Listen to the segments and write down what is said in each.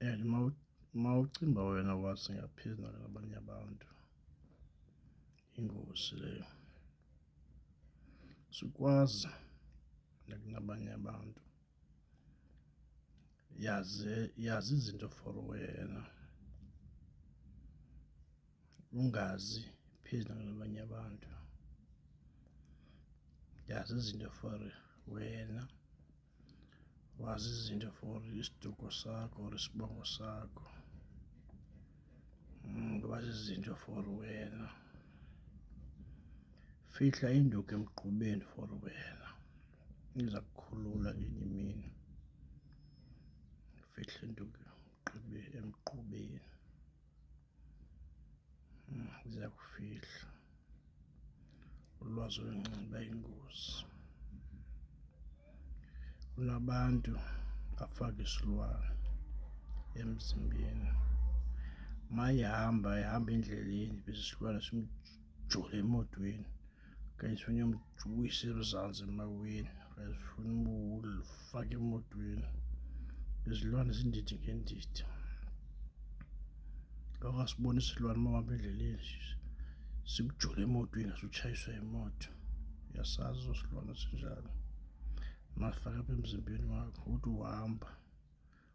and uma ucimba wena wazi ngaphezu nalabanye abantu ingozi leyo sikwazi nakunabanye abantu yazi yazi izinto for wena ungazi phezu nalabanye abantu yazi izinto for wena wazi izinto for isiduko sakho or isibongo sakho hmm, wazi izinto for wena fihla induku emgqubeni for wena iza kukhulula ngenye imini fihla induku emgqubeni ziyakufihla ulwazi olunxiba ingozi kunabantu afake isilwane emzimbeni mayihamba ihamba endleleni bese isilwane simjole emotweni kanye sifunye Juwisi erizansi emaweni, uyazifuna ubufake emotweni. Izilwane zindidi ngendidi. Lokho asibona isilwane uma uhamba endleleni sikujule emotweni asutshayiswe imoto. Uyasazi osilwane sinjalo. Masifaka apha emzimbeni wakho, uthi uhamba.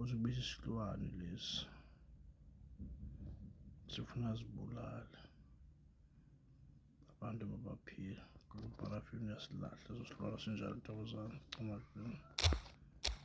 uzibiza isilwane lesi sifuna zibulale abantu babaphila ngoba uparafini uyasilahla ezosilwana sinjalo thokozana cima